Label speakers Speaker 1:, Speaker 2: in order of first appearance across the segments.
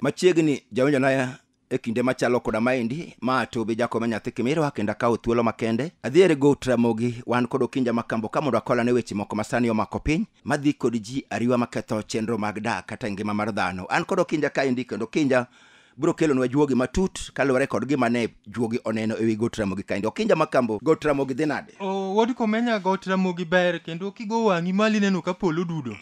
Speaker 1: machiegni jawinjo na e kinde machalo koda maendi ma to be jakome nyathi kimirwa kendo akawo thuolo makende adhiere go tramogi wan kod okinja makambo ka mondo akolane weche moko masani omako piny madhi kod ji ariwa maketho chenro mag dak kata ngima mar dhano an kod okinja kaendi kendo kinja biro kelonwa juogi matut kaluwore kod gima ne juogi oneno ewi got ramogi kaendi okinja makambo got ramogi dhi nade O, Wuod Komenya got ramogi ber kendo kigo wang'i malo ineno ka polo dudo.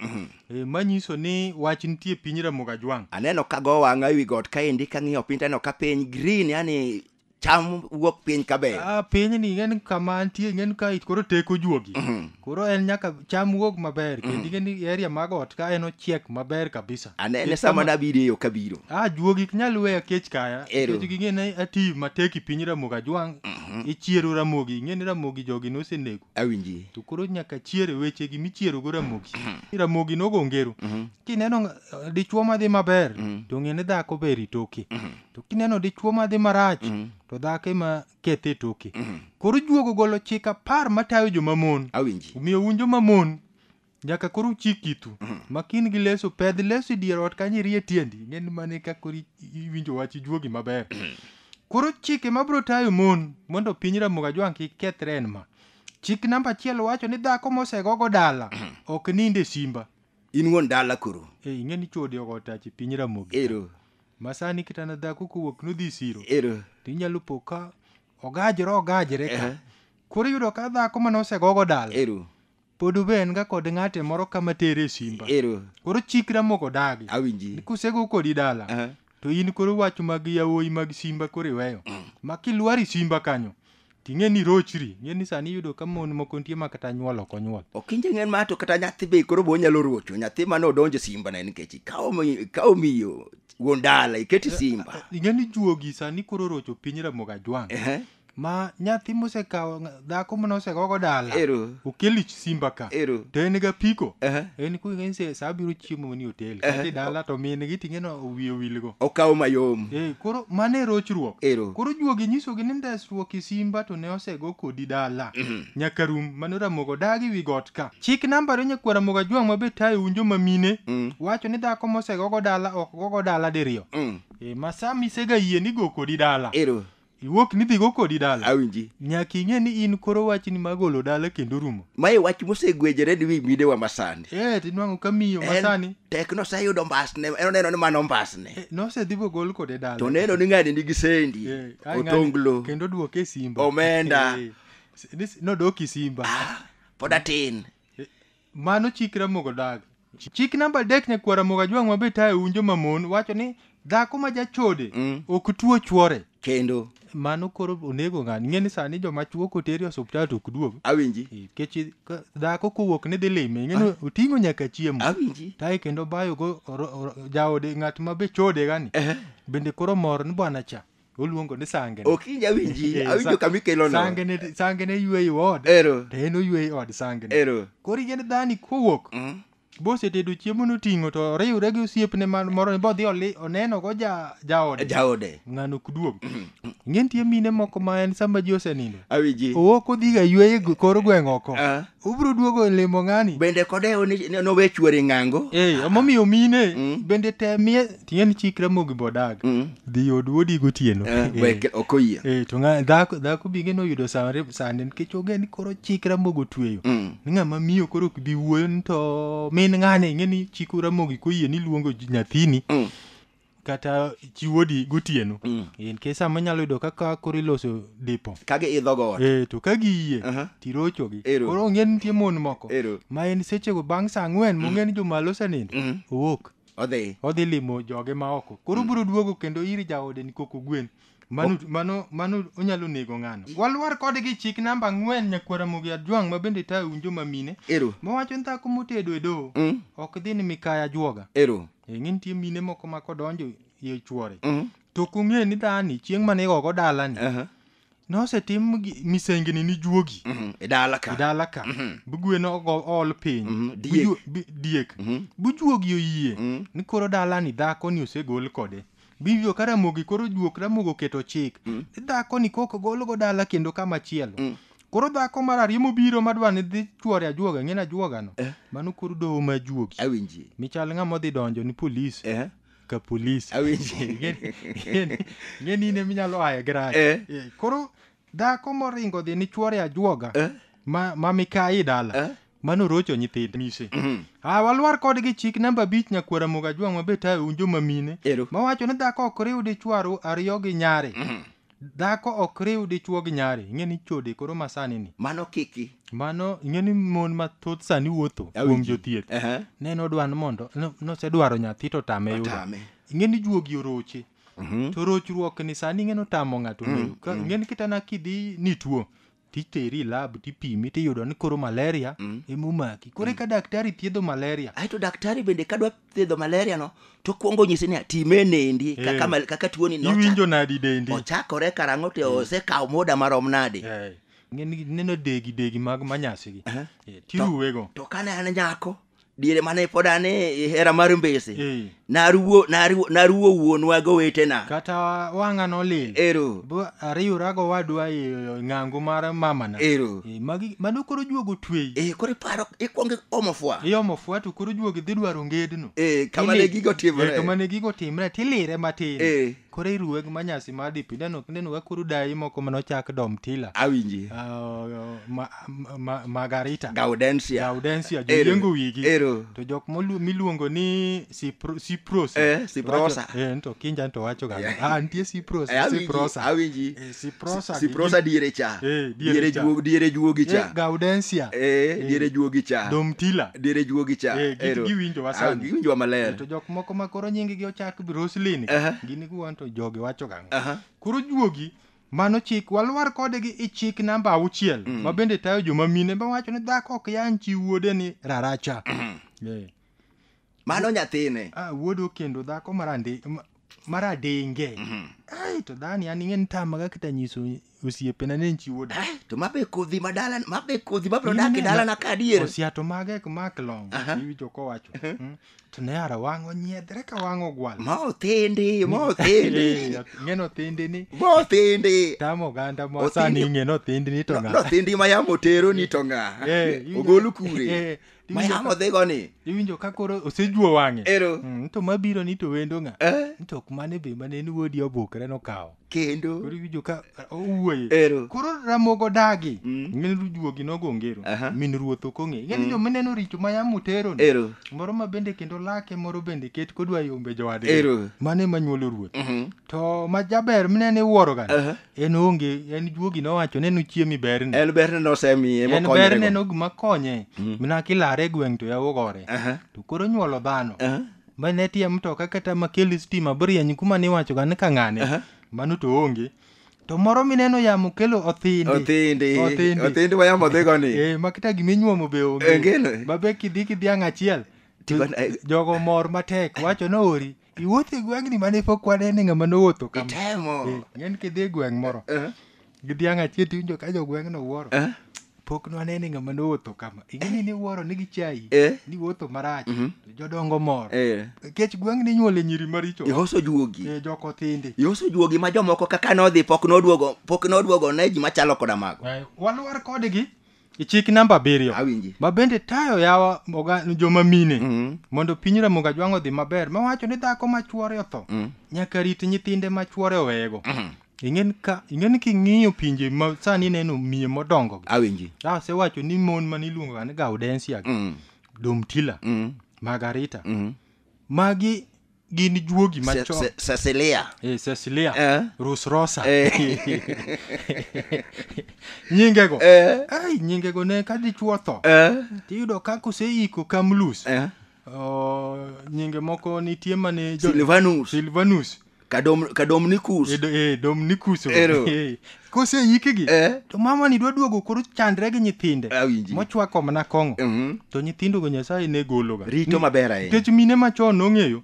Speaker 1: E, manyiso ni wach nitie piny ramoga jwang'. aneno kago wang'a ewi got kaendi kang'iyo piny taneno ka piny green yani cham wuok piny kaber. Ah, piny ni ng'en kama antie ng'en ka it koro teko juogi. Koro en nyaka cham wuog maber kendo ng'en ni area mag ot ka en ochiek maber kabisa. Anene Nikech sama kama- nabiro eyo kabiro. Ah, juogi ok nyal weya kech kaya. Ero. Nikech ging'e ni ati matek i piny Ramogi Ajwang'. Ichiero Ramogi, ing'e ni Ramogi jogi nosenego. Awinji. To koro nyaka chiere weche gi michiero go Ramogi. Ramogi nogo ngero. Kineno nga- dichwo madhi maber to ng'e ni dhako ber itoke. to kineno dichwo ma dhi marach Mm. to dhako ema kethe e toke Mm. koro juogo golo chik apar matayo jomamon Awinji. omiyo un jomamon nyaka koro uchik itu Mm. makin gi leso pedh leso e dier ot kanyo irie tiendi ng'en mane ka koro i- iwinjo wach ijuogi maber koro chike mabiro tayo mon mondo piny ramoga jwang' kik kethre en ma chik namba achiel wacho ni dhako mosegogo dala ok nind e simba In wuon dala koro. e ing'e ni chode ogo tache piny ramogi Ero. Masani kitana dhako kowuok nodhi siro Ero. to inyalo po ka ogajore ogajore ka Ehe. koro iyudo ka dhako mane osegogo dala Ero. pod obe en ga kod ng'ate moro kama tere e simba Ero. koro chikra moko dagi Awinji. ni kusego kodi dala Aha. to in koro wach mag yawuoyi mag simba koro iweyo ma kilwari simba kanyo ting'e ni rochri ng'e ni sani iyudo ka mon moko nitie ma kata nyuol ok onyuol ok inje ng'en ma to kata nyathi be koro be onyalo rocho nyathi mane odonjo simba ne nikech ikawo mi- ikawo miyo wuon dala iketi simba ing'e ni juogi sani koro rocho piny ramoga jwang' Ehe. ma nyathi mosekawo nga- dhako mane osegogo dala Ero. okel ich simba ka Ero. to en ga piko Aha. en ku ng'eny se sa biro chiemo ni hotel Aha. kati dala to min gi ting'e no wiye wilgo Okawo mayom. Eh, koro mano e rochruok Ero. koro juogi nyisogi ni ndesruok i simba to ne osego kodi dala nyaka rum mano ramogo dagi wi got ka chik namba ariyo nyakwar ramogo ajwang' mabe tayo un joma mine Mm. wacho ni dhako mosegogo dala ok gogo dala diriyo Mm. e, ma sa misega yie ni go kodi dala Ero. Iwuok ni dhigo kodi dala. Awinji. Nyaka ing'e ni in koro wachni ma golo dala kendo rumo. Mae wach mosegwejore ni wi midewa masani. Eh, tinwang'o ka miyo masani. En tek noseyudo mbasne, en oneno ni mano mbasne. Eh, nosedhi bogol kode dala. To neno ni ng'ani nigi sendi, eh, otonglo. Kendo duoke simba. Omenda. Eh, nodok isimba. Ah, pod atin. Mano chik Ramogi Odagi. Chik namba adek nyakwar Ramogi Ajwang' ma be tayo un joma mon wacho ni dhako ma jachode mm. ok tuo chwore. Kendo mano koro onego ng'ani ing'e ni sani joma chuo koteri osuptal to ok duog awinji eh, kechi dhako kowuok ni dhi lime ing'e ni oting'o nyaka chiemo awinji tae kendo bayo go jaode ng'at ma be chode gani bende koro mor ni bwana cha oluongo ni sangene okinyi awinji Eh, awinjo sa- kama ikelono sangene sangene yweyo od ero to en oyweyo od sangene ero koro yiend dhani kowuok Mm. bosetedo chiemo noting'o to oriwre gi osiepne man- moro ni bodhi oli- oneno go ja jaode jaode ng'ano ok duog ing'e nitie mine moko ma en sama ji osenindo awinji owuok odhiga yweyo e gwe- kor gweng' oko Ah, Ubro duogo limo ng'ani. Bende kodewo ni ni nowe chuore ng'ango. Eh, emomiyo mine Mm. bende temie ting'eni chik Ramogi bodag. Mm. Dhi od wuodi gotieno. Eh, Eh. wek ok oyie. Eh, to ng'a dhako dhako binge noyudo sare sande nikech onge ni koro chik Ramogi otweyo. Mm. Ni ng'ama miyo koro ok bi wuoyo ni to min ng'ani ing'e ni chik Ramogi koyie ni luongo ji- nyathini Mm. kata chiwo di gotieno mm. e, nikech sama inyalo yudo kaka koro iloso dipo ka giidho got e, to ka giyie uh -huh. tirochogi koro ong'e nitie mon moko Ero. ma en sechego bang' sa ang'wen mm. mong'e ni jomalo osenindo mm -hmm. owuok odhi odhi limo joge ma oko koro mm. biro duogo kendo ir jaode ni koko gwen Mano, mano, mano onyalo nego ng'ano. Walwar kodgi chik namba ang'wen nyakwara Mugi Ajwang' ma bende tayo winjo ma mine. Ero. Mawacho ni dhako motedo e doho Mm. ok dhi ni mikaya juoga. Ero. E ng'e nitie mine moko ma kodonjo e chuore. Mm. To kong'e ni dhani chieng' mane igogo dalani Aha. nosetim gi- misengni ni juogi. Mhm. E dala ka. Dala ka. Mhm. Bugweno ogo- ool piny. Mhm. Bu Diek. ju- bi- Diek. Mhm. Bujuogi oyie Mhm. ni koro dalani dhakoni osegol kode. Bibigo ka Ramogi koro juok Ramogi oketo chik mm. ni dhakoni kok golgo dala kendo kama chielo mm. koro dhako mar ariyo mobiro madwa ni dhi chwore ajuoga ng'eni ajuogano eh. mano koro doho ma juogi awinji michal ng'ama odhi donjo ni polis eh. ka polis awinji ng'eni in eminyalo aye gi rach eh. eh. koro dhako moringo dhi ni chwore ajuoga eh. ma, ma mikayi dala eh. Mano rocho nyithind mise. Ah, walwar kodgi chik namba abich nyakwara moga jwang' mabe tayo un joma mine. Ero. Mawacho ni dhako ok riw dichwo aru- ariyo gi nyare. Dhako ok riw dichwo gi nyare. Ing'e ni chode koro masani ni. Mano kiki. Mano ing'e ni mon mathoth sani wuotho kuom Awinji. jothieth. Ehe. Ne nodwa ni mondo no- nosedwaro nyathi to tame yudo. Otame. Ing'e ni juogi oroche. To rochruok ni sani ing'e ni otamo ng'ato ng'eyo. Ka- Ing'e ni kitana kidhi ni tuo. titeri e lab tipimi tiyudo ni koro malaria mm. emomaki koro eka mm. daktari thiedho malaria aeto daktari bende kadwa thiedho malaria no tokwongo nyisi ni time nendi eh. kaka, hey. kaka tuoni iwinjo nadi dendi ochakore karang'o to mm. osekawo muda marom nadi hey. Eh. neno degi degi mag manyasigi uh -huh. yeah. tiruwego to, to kane an nyako diere mane pod an e e hera mar mbese Eh. naruwo naruwo naruwo wuonwa gowetena kata wang'a nolil ero Bo- ariwra go wadwa e ng'ango mar mamana ero Eh, magi mano koro juogo twei e koro iparo ikwongo omo fwa iomo fwa to koro juogo idhi dwaro ngedno e kama ne Tili- gigo Eh, timore kama ne gigo timre tilire matin Eh. koro iruwe gi manyasi mar DP ineno ineno ka koro dayi moko mane ochak Dom Tila awinji uh, ma, ma, ma, Margarita Gaudensia Gaudensia Ero. joyiengo wigi Ero. to jok molu- miluongo ni Cipro- Ciprosa Eh, Ciprosa. Wacho- eh, to kinja to wacho ga Yeah. ah nitie Ciprosa Eh, awinji, Ciprosa awinji Siprosa. Siprosa diere cha. Eh, diere diere cha. juogi diere juogi Eh, cha. Gaudensia. Eh, Eh. diere juogi cha. Domtila. Diere juogi cha. Eh, gi- Ero. giwinjowa Ah, sani. Giwinjowa maler. To jok moko ma koro nyinggi ochak bi Roslyn. Aha. Gini guwan to jogi wacho gang'o. Aha. Koro juogi mano chik walwar kode gi i chik namba auchiel Mm. ma bende tayo joma mine ma wacho ni dhako ok yan chi wuode ni raracha. Eh. mano nyathine ah, wuod okendo dhako marandi ma- maradenge ai to dhani an ing'e nitamaga kata nyiso osiepena ni en chi wuod Eh, to mabe kodhi madala mabe kodhi mabro dak e dalana ka adier osiato mage ek mak long Aha. iwinjo kowacho Mm. to ne ara wang' onyiedhre ka wang' ogwal ma othindi ma othindi Eh, ng'eno thinde ni ma othindi tamo oganda Othindi- mosani ing'eno thinde ni to ng'a nothindi ma yamo tero ni to ng'a Eh, iwinjo- ogolu kure Eh, Tiwinjo Mayamo ka- dhigo ni. iwinjo ka koro osejuo wang'e Ero. Mm, to mabiro ni to wendo ng'a Eh, Ni to ok mane be mane en wuodi obukre nokawo kendo. koro iwinjo ka owuoye Ero. koro ramogo dagi Mm. min rujuogi nogo ngero Aha. min ruoth ok ong'e ing'e ni Mm. jomineno richo ma yamo tero ni Ero. moro ma bende kendo lake moro bende ket kodwa yombe jowadgi Ero. mane manyuolo ruoth Mhm. to ma jaber mineno iwuoro gani Aha. en onge en juogi nowacho ne nuchiemi berni en berne nosemiye en berne mokonyorego no gima konye mina kilare e gweng' to yawo gore Aha, to koro nyuolo dhano aha. ma ne tie mtoka kata makel stima brieny kuma niwachoga ni ka ng'ane Aha. mano to onge to moro mineno yamo kelo othindi othindi Othindi. othindi wayamo dhigo ni Eh, ma kata gima inyuomo be Onge no. onge babe kidhi kidhiang' achiel to Tiba- eh. jogo mor matek wacho ni ori Iwuotho e gweng'ni mane pok wane ni ng'ama nowuotho kama. Itemo. Eh, Ng'en kidhi e gweng' moro. Eh. Gi dhiang' achiel tiwinjo ka jogweng'no wuoro. Eh. Pok nwane ni ng'ama nowuotho kama. Ing'eni ni wuoro ni gi chai. Eh. Ni wuotho marach. Mhm. To jodongo mor. Eh. Nikech gweng'ni inyuole nyiri maricho. Ihoso juogi. Eh, joko thindi. Ihoso juogi ma jomoko kaka nodhi pok noduogo pok noduogo ne ji machalo koda mago. Eh, Walwar kodgi. E chik namba abiriyo Awinji. ma bende tayo yawa oga- joma mine Mm. mondo piny ramoga jwang' odhi maber mawacho ni dhako ma chwore otho Mm. nyaka rit nyithinde ma chwore oweyego Mm. ing'e ni ka- ing'e ni king'iyo pinje ma sani ineno miye modongo gi Awinji. asewacho ni mon mane iluongoga ni gaudensia gi Mm. domtila Mm. margarita Mm. magi gin juogi machon Se- Se- Cecilia. Eh, Cecilia Eh. Rus Rosa Eh. nyingego Eh. ai nyingego ne ka dichuo tho Eh. tiyudo ka koseiko kamlus Eh. oh, nyinge moko nitie mane jo- Silvanus. Silvanus Kadom, Kadomnicus. e, do- e, Dominicus Ero. Eh, koseikgi Eh. to mamani dwa duogo koro chandre gi nyithinde Awinji. mochwako mana kong'o Mhm. to nyithindogo nyasaye ne gologa Rito Ni- maber ahinya. nikech mine machon nong'eyo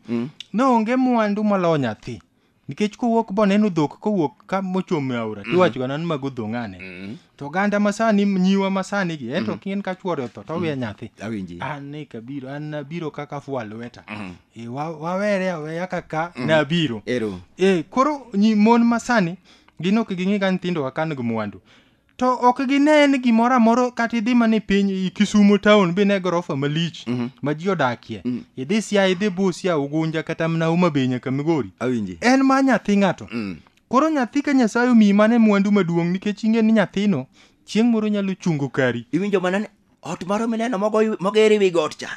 Speaker 1: ne onge mwandu maloyo nyathi nikech kowuok boneno dhok kowuok ka mochomo e aora tiwachoga nan mago dho ng'ane to oganda masani nyiwa masani gi ento kien ka chuore otho to owe nyathi Awinji. an ne kabiro an nabiro kaka fwa lweta Eh, wa- wawere aweya kaka nabiro Ero. Eh, koro nyi mon masani Gin ok ging'i ka nyithindo wa kan gi mwandu. To ok gine ni gimoro amoro kata idhi mana e piny i Kisumo town bi ne gorofa malich ma ji odakie. Idhi Siaya, idhi Busia, Ugunja kata mana Homa Bay nyaka Migori. Awinji. En ma nyathi ng'ato. Koro nyathi ka Nyasaye omiyi mane mwandu maduong' nikech ing'e ni nyathino chieng' moro nyalo chungo kari. Iwinjo mana ni ot moro mineno mogo- moger e wi got cha.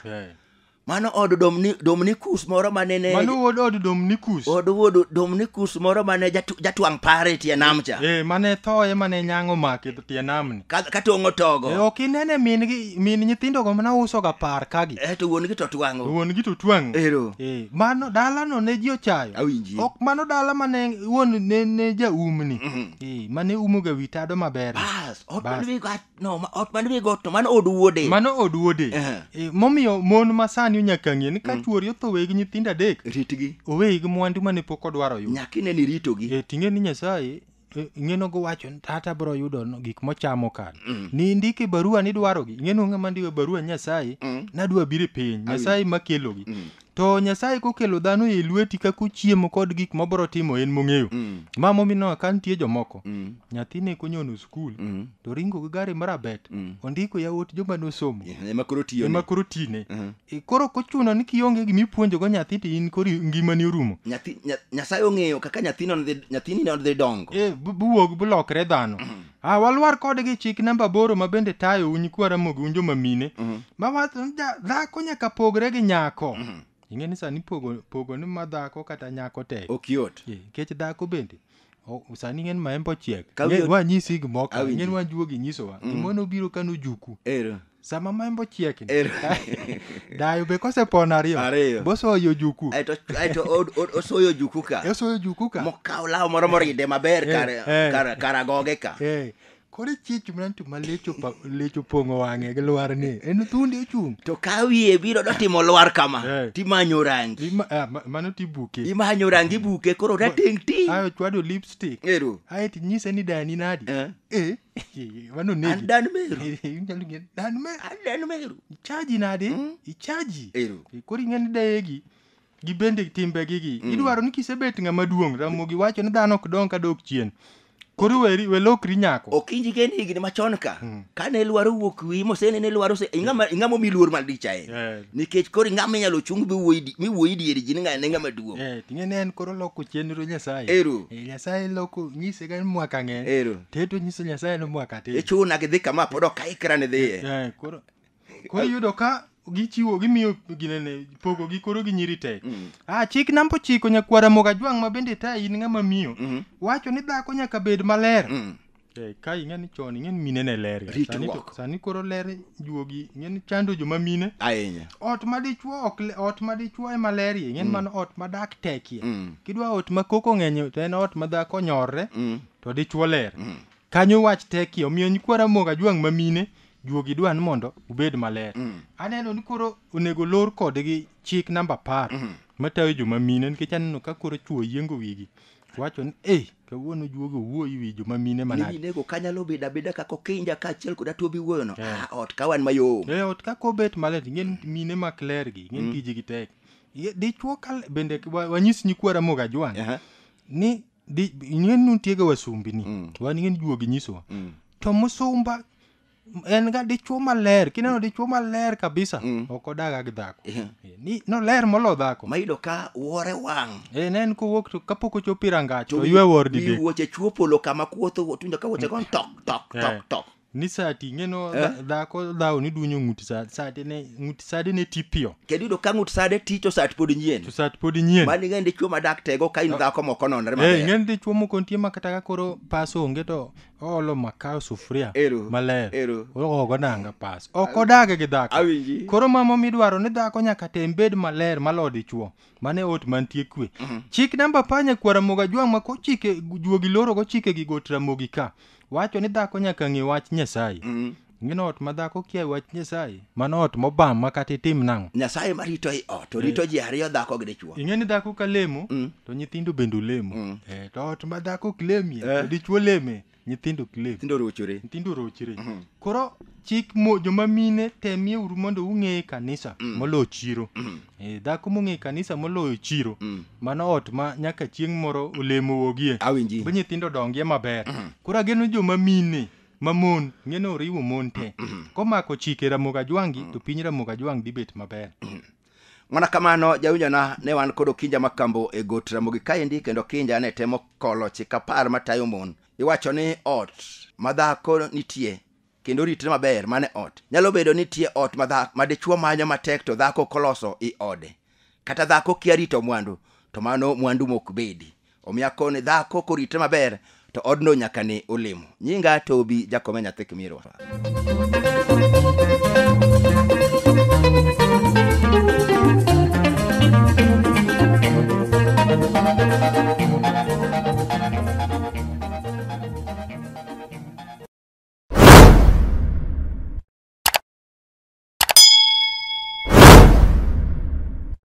Speaker 1: Mano od Domni, Dominikus moro ma nene mano wuod od domnikus od wuod Dominikus moro ma ne jatu- jatwang' pare e tie nam cha. ee mane thoye mane nyang'o make tie namni Ka, ka tong'o togo. e ok inene min gi min nyithindogo mana usoga par kagi Eh, to wuon gi to twang'o. wuon gi to twang' Ero. ee mano dalano ne ji ochayo Awinji. ok mano dala mane wuon ne, ne jaumni Mhm. ee mane umoga wi tado maber Bas, ot Bas. man wi gat No, ma- ot man wi got to mano od wuode. mano od wuode Aha. Eh, momiyo mon ma sani onyaka ng'e ni ka chuori otho wegi nyithindo adek Ritgi. oweyi gi mwandu mane pok odwaro yudo Nyaka ine ni iritogi. e ting'e ni nyasaye eh, ing'eno gowacho ni tata biro yudo no- gik mochamo kan ni indike barua nidwarogi ing'eno ng'ama ndiwe barua nyasaye nadwa biro e piny nyasaye makelogi To Nyasaye kokelo dhano e lweti kaka ochiemo kod gik mobro timo en mong'eyo. Mm. Ma momino ka nitie jomoko. Mm. Nyathi ne konyono skul Mm. to ringo gi gari marabet. Mm. Ondiko yawuot joma nosomo. Yeah, Ema koro tiyo Ema ni. koro tine. Mhm. E, Koro ok ochuno ni kionge gima ipuonjogo nyathi to in koro ngimani orumo. Nyathi nya- Nyasaye ong'eyo kaka nyathino ne dhi- nyathini ne dhi dongo. E, bu- buwog bulokre dhano. Ah, walwar kode gi chik namba aboro ma bende tayo u nyikwa Ramogi un joma mine. Ma wacho ni ja- dhako nyaka pogre gi nyako. Ing'e ni sani pogo pogo ni ma dhako kata nyako tek. Ok yot. Eh, Nikech dhako bende o- sani ng'en maembe ochiek. Ka Ng'e- wiyo- Wanyisi gimoko. Awinji. Ng'en wajuogi nyisowa. Gimoro nobiro ka nojuku. Ero. sama maembo chiekni Er- dayo be kosepon ariyo Ariyo. bosoyo juku aeto aeto o- o- osoyo juku ka esoyo juku ka mokawo law moro moride maber Eh, kar- eh. kar- kar agoge ka Eh, koro chich mnantu ma lecho pa- lecho pong'o wang'e gi lwar ni en thundi ochung' to ka wiye biro dotimo lwar kama Eh. timanyo rangi Ima- ah, ma- mano tibuke imanyo rangi buke koro rateng ti ayo chwado lipstick ero aeto inyise ni dani nadi Eh. eh wano negi an dan meru inyalo ng'e dan meru an dan meru ichaji nade mm. ichaji ero koro ing'eni dayegi gi bende timbe gi gi mm. idwaro ni kisebet ng'ama duong' ramogi wacho ni dhano ok dong ka dok chien koro weri welokri nyako okinji gen higni machon ka mm. kane lwaro wuok wi mosene ne lwaro se ingama ingama omi luor mal dicha en yeah. nikech koro ingama inyalo chung bi wuoyi mi wuoyi dieri ji ni ng'ane ng'ama duong' eh yeah, ting'e ne en koro loko chenro nyasaye ero Eh, nyasaye loko nyise ka en mwaka ng'eny Ero. teto nyiso nyasaye ni mwaka tin ichuna gidhi kama pod ok aikra ni dhiye Eh, koro koro iyudo ka gichiwo gimiyo ginene pogo gi koro gi nyiri tek Mm. ah chik namba ochiko nyakwara moga jwang' ma bende ta in ng'ama miyo Mhm. wacho ni dhako nyaka bed maler Mm. Eh, ka ing'e ni chon ing'e ni mine ne ler ga. Sani to- Ritruok. sani koro ler juogi ing'e ni chando joma mine ahinya ot ma dichwo ok le- ot ma dichwo ema lerie ing'e ni mano ot ma dak tekie Mm. kidwa ot ma koko ng'enye to en ot ma dhako nyorre Mm. to dichwo ler kanyo wach tekie omiyo nyikwara moga jwang' ma mine juogi dwa ni mondo ubed maler Mm. aneno ni koro onego lor kodgi chik namba apar matayo joma mine nikech aneno ka koro chwo yiengo wigi wacho ni ei kawuono juogi owuoyi wi joma mine manade minego kanyalo bedo abeda kaka okinja kaachiel kod atuobi wuoyono Eh. Ah, ot kawan mayom e ot kaka obet malet ing'en mine mak lergi ing'en tijgi tek Ye- dichwo kal bende wa- wanyis nyikwa ramoga jwang Aha. ni di- ing'en nuntiega wasumbini Mm. wan ing'en juogi nyisowa Mm. to musumba en ga dichuo maler kineno dichuo maler kabisa Mm. ok odaga gi dhako Eh. Eh, ni noler molo dhako ma yudo ka wore wang' Eh, ne en kowuok to kapok ochopo irangach to ywe wor wi didek wuoche chuo polo kama kuotho tundo ka wuoche gon tok tok Eh. tok tok ni sati ing'eno Eh. dha- dhako dhawo ni dunyo ng'uti sa- sati ne ng'uti sadi ne tipiyo kendo yudo ka ng'ut sade ti to sat pod nyien to sati pod nyien mani ng'e ndichuo madak tego ka in dhako moko nonre Eh, maber ing'eni dichuo moko nitie ma kata ka koro pas onge to oolo makaa e sufuria Ero. maler Ero. ogogo nanga pas ok odage gi dhako Awinji. koro mama midwaro ni dhako nyaka tem bed maler malo dichuo mane ot mantie kwe chik namba panya kwara moga jwang' ma kochike juogi loro gochike gi got ramogi ka wacho ni dhako nyaka ng'e wach nyasaye Mhm. Ngin ot ma dhako kia wach Nyasaye. Mano ot mobam ma kata itim nang'o. Nyasaye ma rito i ot, orito ji ariyo dhako gi dichwo. Ing'e ni dhako ka lemo, to nyithindo bende olemo. Mm. Eh, to ot ma dhako ok lemie, Eh. to dichwo leme, nyithindo ok lem. Nyithindo rochore. Nyithindo rochre. Mhm. Koro chik mo joma mine temie uru mondo ung'e kanisa Mm. moloyo chiro. Mm. Eh, dhako mong'e kanisa moloyo chiro, Mm. mano ot ma nyaka chieng' moro olemo wogie. Awinji. Be nyithindo dongie maber. Mhm. Koro ageno joma mine ma mon ng'e ni oriwo mon te komako chike ramogi ajwangi to piny ramogi ajwang dhi bet maber mana kamano jawinjona ne wan kod okinja ma kambo e got ramogi kaendi kendo okinja ne temo kolo chik apar matayo mon iwacho ni ot ma dhako nitie kendo ritre maber mane ot nyalo bedo nitie ot ma dhako ma dichwo manyo matek to dhako koloso i ode kata dhako kia rito mwandu to mano mwandu mok bedi Omiyo akone dhako korite maber to odno nyaka ne olemo. Nyinga Tobi Jakome nyathi Kimirwa.